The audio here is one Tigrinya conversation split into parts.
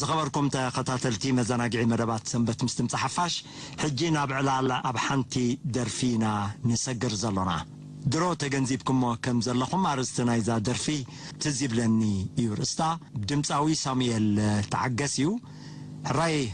ዝኸበርኩም ተኸታተልቲ መዘናግዒ መደባት ሰንበት ምስ ድምጺ ሓፋሽ፣ ሕጂ ናብ ዕላል ኣብ ሓንቲ ደርፊ ኢና ንሰግር ዘሎና። ድሮ ተገንዚብኩሞ ከም ዘለኹም ኣርእስቲ ናይዛ ደርፊ ትዝ ይብለኒ እዩ ርእስታ። ድምጻዊ ሳሙኤል ተዓገስ እዩ። ሕራይ!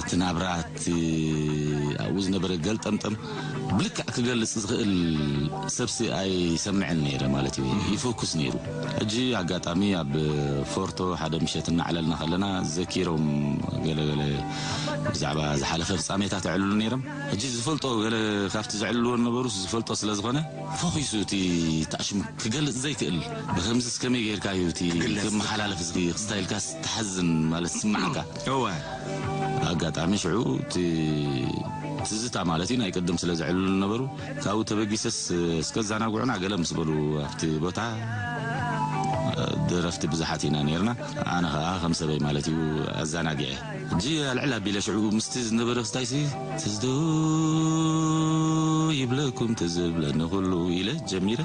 እቲ ናብራ እቲ ኣብኡ ዝነበረ ገልጠምጠም ብልክዕ ክገልጽ ዝኽእል ሰብሲ ኣይሰምዕን ነይረ ማለት እዩ ይፍኩስ ነይሩ ሕጂ ኣጋጣሚ ኣብ ፎርቶ ሓደ ምሸት እናዕለልና ከለና ዘኪሮም ገለ ገለ ብዛዕባ ዝሓለፈ ፍጻሜታት የዕልሉ ነይሮም ሕጂ ዝፈልጦ ገለ ካብቲ ዘዕልልዎ ነበሩስ ዝፈልጦ ስለ ዝኾነ ፈኺሱ እቲ ታእሽሙ ክገልጽ ዘይክእል ብከምዚስ ከመይ ጌርካ እዩ እቲ ክመሓላለፍ ዝኽይኽ ስታይልካስ ትሓዝን ማለት ዝስመዓካ እወ ኣጋጣሚ ሽዑ እቲ ትዝታ ማለት እዩ ናይ ቅድም ስለ ዘዕልሉ ነበሩ ካብኡ ተበጊሰስ እስከ ዛናጉዑና ገለ ምስ በሉ ኣብቲ ቦታ ደረፍቲ ብዙሓት ኢና ነርና ኣነ ኸኣ ከም ሰበይ ማለት እዩ ኣዘናጊዐ ሕጂ ኣልዕል ኣቢለ ሽዑ ምስቲ ዝነበረ ክስታይሲ ትዝዶ ይብለኩም ትዝብለኒ ኩሉ ኢለ ጀሚረ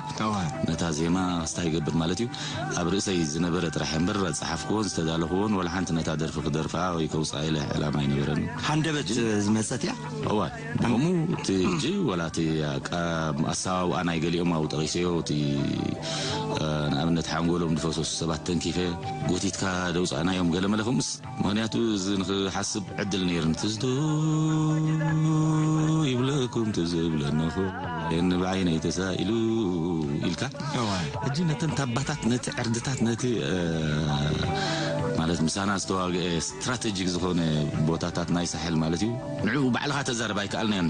ነታ ዜማ ክስታ ይገብር ማለት እዩ ኣብ ርእሰይ ዝነበረ ጥራሕ እምበር ዝጸሓፍክዎን ዝተዳለኽዎን ወላ ሓንቲ ነታ ደርፊ ክደርፋ ወይ ከውጽኣ ኢለ ዕላማ ኣይነበረንን። ሃንደበት ዝመጸት እያ። እወ ብኸምኡ እቲ ሕጂ ወላ እቲ ኣሰዋውኣ ናይ ገሊኦም ኣብኡ ጠቒሰዮ እቲ ንኣብነት ሓንጎሎም ዝፈሰሱ ሰባት ተንኪፈ ጎቲትካ ዘውጻእናዮም ገለመለ ከምኡስ፣ ምክንያቱ እዚ ንክሓስብ ዕድል ነይርኒ ትዝትኡ ይብለኩም ትዝ ብለንኹ የኒ ብዓይነይ ተሳኢሉ ኢልካ ሕጂ ነተን ታባታት ነቲ ዕርድታት ነቲ ማለት ምሳና ዝተዋግአ ስትራተጂክ ዝኾነ ቦታታት ናይ ሳሕል ማለት እዩ ንዕኡ ባዕልኻ ተዛረብ ኣይከኣልናዮን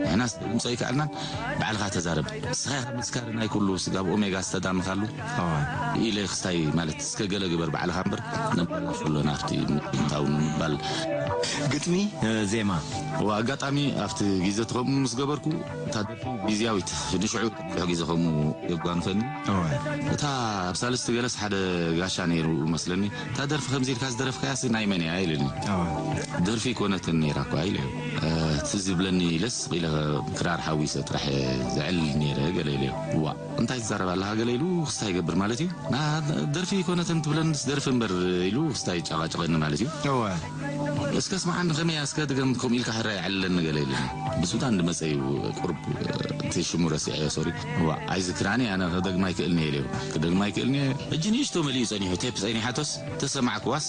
ንሕናስ ድምፆ ኣይከኣልናን ባዕልኻ ተዛረብ ንስኻ ኢኻ መስካሪ ናይ ኩሉ ስጋብ ኦሜጋ ዝተዳምኻሉ ኢለ ክስታይ ማለት እስከ ገለ ግበር ባዕልኻ እምበር ነመላልሶ ኣሎ ናብቲ ምእታው ንምባል። ግጥሚ ዜማ እወ ኣጋጣሚ ኣብቲ ጊዘ እቲ ከምኡ ምስ ገበርኩ እታ ደርፊ ጊዝያዊት ንሽዑ ብዙሕ ጊዘ ከምኡ የጓንፈኒ እወ እታ ኣብ ሳልስቲ ገለስ ሓደ ጋሻ ነይሩ መስለኒ እታ ደርፊ ከምዚ ኢልካ ዝደረፍካያሲ ናይ መን እያ ኢሉኒ እወ ደርፊ ኣይኮነትን ነይራ እኳ ኢለዮ ትዝ ይብለኒ ኢለ ስቅ ኢለ ክራር ሓዊሰ ጥራሕ እየ ዝዕልል ነይረ ገለ ኢለዮ እዋእ እንታይ ትዛረብ ኣለኻ ገለ ኢሉ ክስታይ ይገብር ማለት እዩ ናሃ ደርፊ ኣይኮነትን ትብለንስ ደርፊ እምበር ኢሉ ክስታይ ይጫቃጨቀኒ ማለት እዩ እወ እስከ ስምዓኒ ከመይ እያ እስከ ድገም ከምኡ ኢልካ ሕራይ የዕልለኒ ገለ ኢሉ ብሱታ እንድመጸ እዩ ቁሩብ እቲ ሽሙ ረሲዐዮ ሶሪ እዋእ ኣይዝክራን እየ ኣነ ክደግማ ኣይክእልን እየ ኢለዮ ክደግማ ኣይክእልን እየ ሕጂ ንእሽቶ መሊኡ ጸኒሑ ቴፕ ጸኒሓቶስ ተሰማዕክዋስ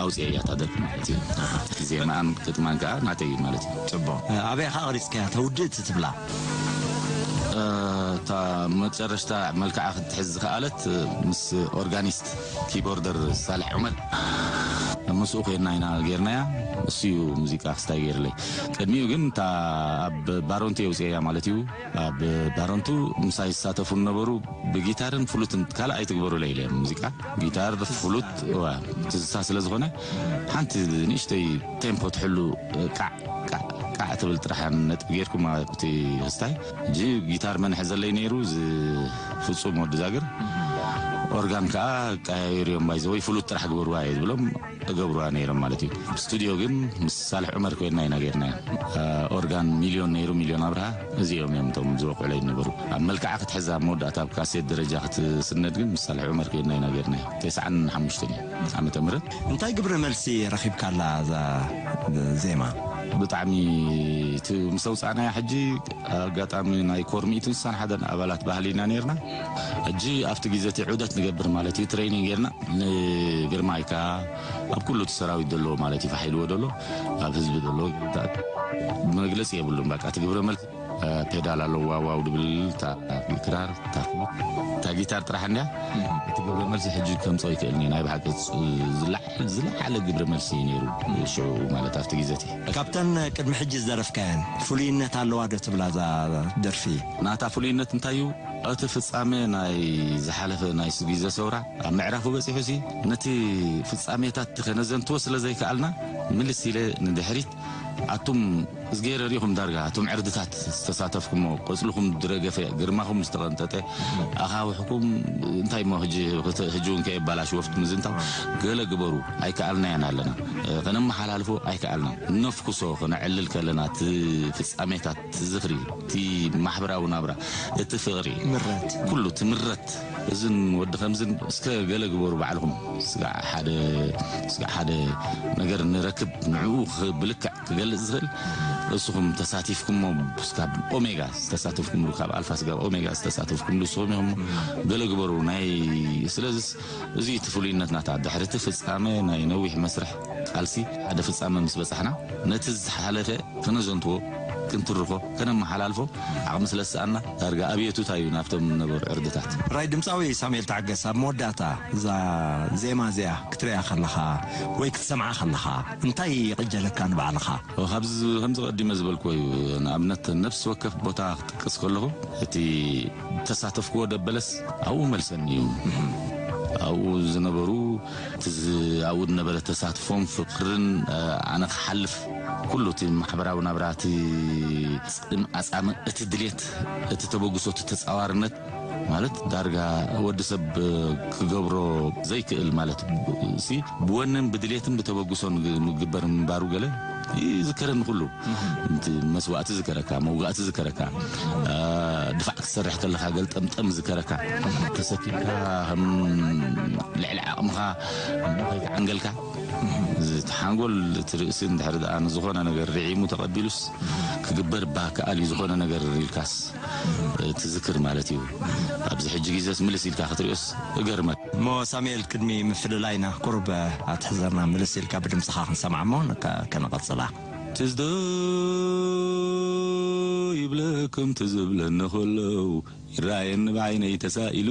ኣውጺኤያ እታ ደርፊ ማለት እዩ ዜማኣን ግጥማን ከኣ ናተይ እዩ ማለት እዩ። ጽቡቅ ኣበይ ኢኻ ቀሪጽካያ እታ ውድእቲ ትብላ? እታ መጨረሽታ መልክዓ ክትሕዝ ዝኸኣለት ምስ ኦርጋኒስት ኪቦርደር ሳልሕ ዑመር ምስኡ ኮይና ኢና ጌርናያ እሱ እዩ ሙዚቃ ክስታይ ጌርለይ ቅድሚኡ ግን እታ ኣብ ባሮንቲ የውጺኤያ ማለት እዩ። ኣብ ባረንቱ ምሳይ ዝሳተፉ ዝነበሩ ብጊታርን ፍሉትን ካልእ ኣይትግበሩለይ ኢለ ሙዚቃ ጊታር ፍሉት እወ ትዝታ ስለ ዝኾነ ሓንቲ ንእሽተይ ቴምፖ ትሕሉ ቃዕ ቃዕ ቃዕ ትብል ጥራሕ ነጥቢ ጌርኩም ኣብቲ ህስታይ እጂ ጊታር መን ይሕዘለይ ነይሩ እዚ ፍጹም ወዲ ዛግር ኦርጋን ከኣ ቀያይሩ እዮም ባይዘወይ ፍሉት ጥራሕ ግበሩዋ እየ ዝብሎም እገብሩዋ ነይሮም ማለት እዩ ስቱድዮ ግን ምስ ሳልሕ ዑመር ኮይንና ኢና ገይርናያ ኦርጋን ሚልዮን ነይሩ ሚልዮን ኣብርሃ እዚኦም እዮም እቶም ዝወቅዑለይ ዝነበሩ ኣብ መልክዓ ክትሕዛ ኣብ መወዳእታ ኣብ ካሴት ደረጃ ክትስነድ ግን ምስ ሳልሕ ዑመር ኮይንና ኢና ገይርናያ ተስዓን ሓሙሽተን እዩ ዓመተ ምህረት እንታይ ግብረ መልሲ ረኺብካላ እዛ ዜማ? ብጣዕሚ እቲ ምስ ኣውጻእናያ ሕጂ ኣጋጣሚ ናይ ኮር ሚእቲ እንስሳን ሓደን ኣባላት ባህሊ ኢና ነይርና ሕጂ ኣብቲ ግዜ እቲ ዑደት ንገብር ማለት እዩ ትረይኒንግ ጌርና ንግርማይ ከኣ ኣብ ኩሉ እቲ ሰራዊት ደሎ ማለት እዩ ፋሒልዎ ደሎ ኣብ ህዝቢ ደሎ መግለጺ የብሉን በቃ እቲ ግብረ መልሲ ፔዳል ኣሎ ዋው ዋው ድብል እታ ክራር እታ እታ ጊታር ጥራሕ እንድያ እቲ ግብረ መልሲ ሕጂ ከምጾ ይክእልኒ ናይ ብሓቂ ዝለዓለ ግብረ መልሲ እዩ ነይሩ ሽዑ ማለት ኣብቲ ግዜ እቲ ካብተን ቅድሚ ሕጂ ዝደረፍካየን ፍሉይነት ኣለዋ ዶ ትብላ እዛ ደርፊ? ናታ ፍሉይነት እንታይ እዩ? እቲ ፍጻሜ ናይ ዝሓለፈ ናይ ስጒዘ ሰውራ ኣብ ምዕራፉ በጺሑሲ፣ ነቲ ፍጻሜታትቲ ከነዘንትዎ ስለ ዘይከኣልና፣ ምልስ ኢለ ንድሕሪት፣ ኣቱም እዝግሄረ ርኢኹም ዳርጋ ኣቱም ዕርድታት ዝተሳተፍኩሞ፣ ቆጽልኹም ድረገፈ፣ ግርማኹም ዝተቐንጠጠ ኣኻውሕኩም እንታይ እሞ ህጂ ህጂውን ከየባላሽወፍት ምዝንታው ገለ ግበሩ ኣይከኣልናዮን ኣለና፣ ከነመሓላልፎ ኣይከኣልናን፣ ነፍኩሶ፣ ከነዕልል ከለና እቲ ፍጻሜታት፣ እቲ ዝኽሪ፣ እቲ ማሕበራዊ ናብራ፣ እቲ ፍቕሪ፣ ምረት፣ ኩሉ እቲ ምረት፣ እዝን ወዲ ከምዝን እስከ ገለ ግበሩ ባዕልኹም፣ ስጋዕ ሓደ ስጋዕ ሓደ ነገር ንረክብ፣ ንዕኡ ብልክዕ ክገልጽ ዝኽእል እስኹም ተሳቲፍኩሞ፣ ስካብ ኦሜጋ ዝተሳተፍኩምሉ፣ ካብ ኣልፋ ስጋብ ኦሜጋ ዝተሳተፍኩምሉ እስኹም ኢኹም እሞ ገለ ግበሩ፣ ናይ ስለዝስ እዚ እቲ ፍሉይነትናታ፣ ድሕሪ እቲ ፍጻመ ናይ ነዊሕ መስርሕ። ቃልሲ ሓደ ፍጻመ ምስ በጻሕና፣ ነቲ ዝሓለፈ ከነዘንትዎ፣ ክንትርኾ፣ ከነመሓላልፎ ዓቕሚ ስለ ዝሰኣንና፣ ዳርጋ ኣብየቱታ እዩ ናብቶም ዝነበሩ ዕርድታት። ሕራይ ድምጻዊ ሳሙኤል ተዓገስ ኣብ መወዳእታ እዛ ዜማ እዚኣ ክትርእያ ከለኻ ወይ ክትሰምዓ ከለኻ እንታይ ይቕጀለካ ንባዕልኻ? ካብዚ ከምዚ ቀዲመ ዝበልክዎ እዩ። ንኣብነት ነፍሲ ወከፍ ቦታ ክጥቅስ ከለኹ እቲ ዝተሳተፍክዎ ደበለስ ኣብኡ መልሰኒ እዩ። ኣብኡ ዝነበሩ። እቲ ኣብኡ ዝነበረ ተሳትፎን ፍቅርን ኣነ ክሓልፍ ኩሉ እቲ ማሕበራዊ ናብራ እቲ ጽም ኣጻም እቲ ድሌት እቲ ተበግሶ እቲ ተጻዋርነት ማለት ዳርጋ ወዲ ሰብ ክገብሮ ዘይክእል ማለት ሲ ብወንን ብድሌትን ብተበግሶን ምግበር ምንባሩ ገለ ይዝከረኒ ኩሉ እቲ መስዋእቲ ዝከረካ መውጋእቲ ዝከረካ ድፋዕ ክትሰርሕ ከለካ ገልጠምጠም ዝከረካ ተሰኪምካ ከም ልዕሊ ዓቕምኻ እሞ ከይተዓንገልካ ዝተሓንጎል እቲ ርእሲ እንድሕሪ ደኣ ንዝኾነ ነገር ርዒሙ ተቐቢሉስ ክግበር እባ ክኣል እዩ ዝኾነ ነገር ኢልካስ ትዝክር ማለት እዩ። ኣብዚ ሕጂ ግዜስ ምልስ ኢልካ ክትሪኦስ እገርመካ። እሞ ሳሙኤል ቅድሚ ምፍልላይና ቁሩብ ኣትሕዘና ምልስ ኢልካ ብድምጽኻ ክንሰምዓ እሞ ከነቐጽላ። ትዝ ዶ ይብለኩም ትዝ ዝብለኒ ከሎ ይረኣየኒ ብዓይነይ ተሳኢሉ።